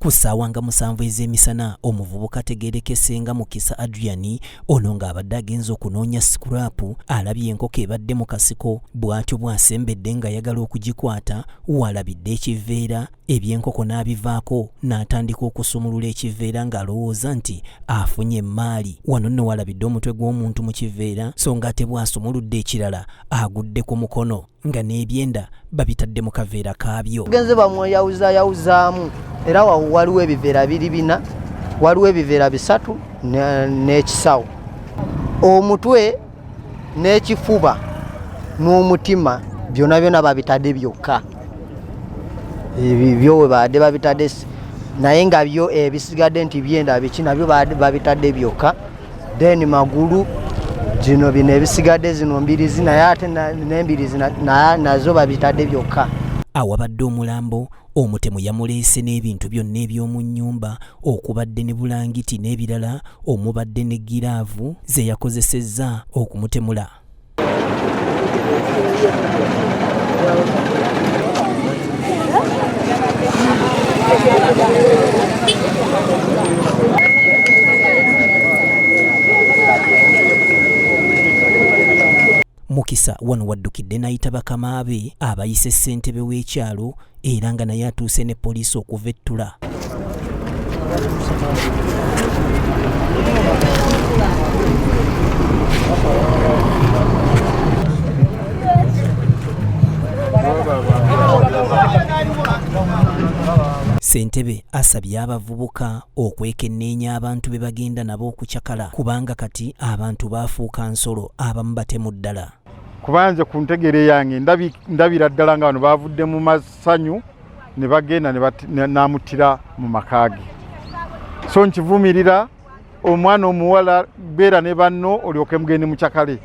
ku ssaawa nga musanvu ez'emisana omuvubuka ategeerekese nga mukisa adrian ono ng'abadde agenza okunoonya sikuraapu alabye enkoko ebadde mu kasiko bw'atyo bw'asembedde ng'ayagala okugikwata waalabidde ekiveera eby'enkoko n'abivaako n'atandika okusumulula ekiveera ng'alowooza nti afunye emmaali wano nno waalabidde omutwe gw'omuntu mu kiveera so ng'ate bw'asumuludde ekirala agudde ku mukono nga n'ebyenda babitadde mu kaveera kaabyo genze bamweyawuzayawuzaamu era wawo waliwo ebiveera biri bina waliwo ebiveera bisatu n'ekisawo omutwe n'ekifuba n'omutima byona byona babitadde byokka ebyo webabadde babitadde naye nga byo ebisigadde nti byenda biki nabyo babitadde byokka then magulu zino bino ebisigadde zino mbirizi naye ate nembirizi nazo babitadde byokka awabadde omulambo omutemu yamuleese n'ebintu byonna eby'omu nnyumba okubadde ne bulangiti n'ebirala omubadde ne giraavu ze yakozesezza okumutemula Mukisa wano waddukidde n'ayita bakama be abayise ssentebe w'ekyalo era nga naye atuuse ne poliisi okuva ettula Ssentebe asabye abavubuka okwekenneenya abantu be bagenda nabo okucakala kubanga kati abantu baafuuka nsolo abamu batemu ddala. kuba nze ku ntegere yange ndabira ddala nga bano bavudde mu masanyu ne bagenda n'amuttira mu maka ge so nkivumirira omwana omuwala beera ne banno olyoke mugende mucakale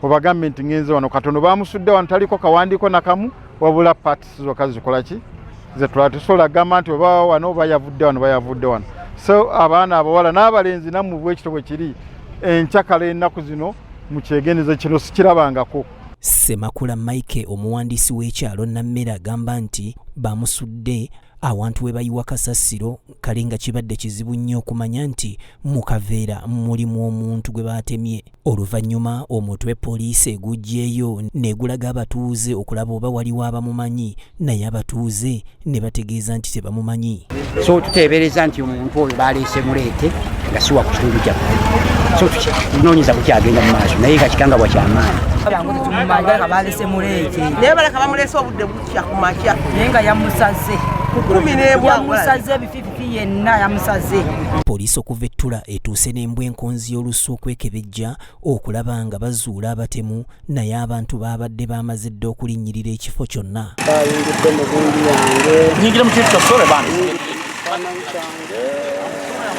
obagambe nti ngenze wano katono bamusudde wano taliko kawandiiko nakamu wabula pat zokka zikola ki zetulaba tesobola gamba nti oba wano oba yavudde wano bayavudde wano so abaana abawala n'abalenzi namu bwekito bwe kiri enkyakala ennaku zino mu kyegendezo kino sikirabangako semakula mike omuwandiisi w'ekyalo nammere agamba nti bamusudde awantu we bayiwa kasasiro kale nga kibadde kizibu nnyo okumanya nti mu kaveera mulimu omuntu gwe baatemye Oluvannyuma omutwe poliisi eguggyeeyo negulaga abatuuze okulaba oba waliwo abamumanyi naye abatuuze ne bategeeza nti tebamumanyi. So tuteebereza nti omuntu oyo baleese muleete nga siwa ku kitundu kyaffe so tunoonyeza ku kyagenda mu maaso naye nga kikangabwa kyamaanyi naye balaka bamuleese obudde bukya ku makya naye nga yamusaze kumi nebwa yenna yamusaze poliisi okuva ettula etuuse n'embwa enkonzi y'olusu okwekebejja okulaba nga bazuula abatemu naye abantu baabadde baamaze dda okulinnyirira ekifo kyonna bayingidde mu bungi yange nyingira mu kintu kyosole bana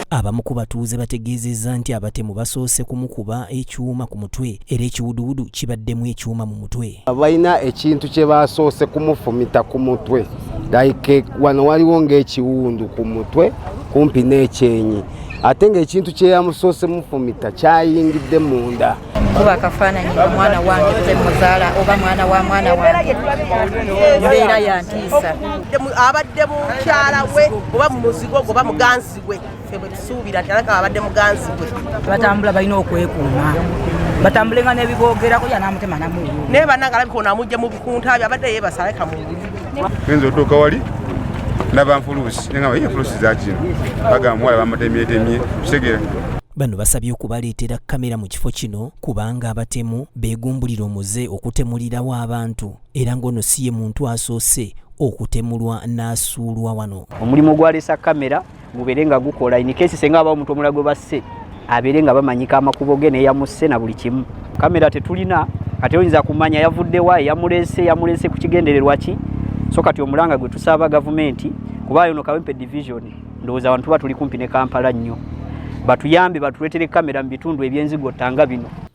abamu ku batuuze bategeezezza nti abatemu basoose kumukuba ekyuma ku mutwe era ekiwuduwudu kibaddemu ekyuma mu mutwe balina ekintu kye basoose kumufumita ku mutwe like wano waliwo ng'ekiwundu ku mutwe kumpi n'ekyenyi ate ng'ekintu kyeyamusoose mufumita kyayingidde munda kuba akafaananyi nga mwana wange nze muzaala oba mwana wa mwana wange mbeera yantiisa abadde mukyala we oba mumuzigo gwe oba muganzi we ffe bwe tusuubira nti alaka abadde muganzi gwe batambula balina okwekuuma batambule nga nebiboogerako yanamutema namu naye bananga alabika ono amujja mu bikunta byo abadde yebasaleka mu enza otuuka wali ndaba nfuluusi naye nga ye nfuluusi zakino bagamba muwala bamutemyetemye kitegera bano basabye okubaleetera kamera mu kifo kino kubanga abatemu beegumbulira omuze okutemulirawo abantu era ng'ono si ye muntu asoose okutemulwa n'asuulwa wano omulimu gwalesa kamera gubeere nga gukola in case senga aba omuntu omulago basse abeere nga bamanyika amakubo ge neyamusse na buli kimu kamera tetulina kati oyinza kumanya yavuddewa yamulese yamulese ku kigendererwa ki so kati omulanga gwe tusaba gavumenti kuba yono kawempe division ndowooza abantu tuba tuli kumpi ne kampala nnyo batuyambe batuleetere kamera mu bitundu ebyenzigottanga bino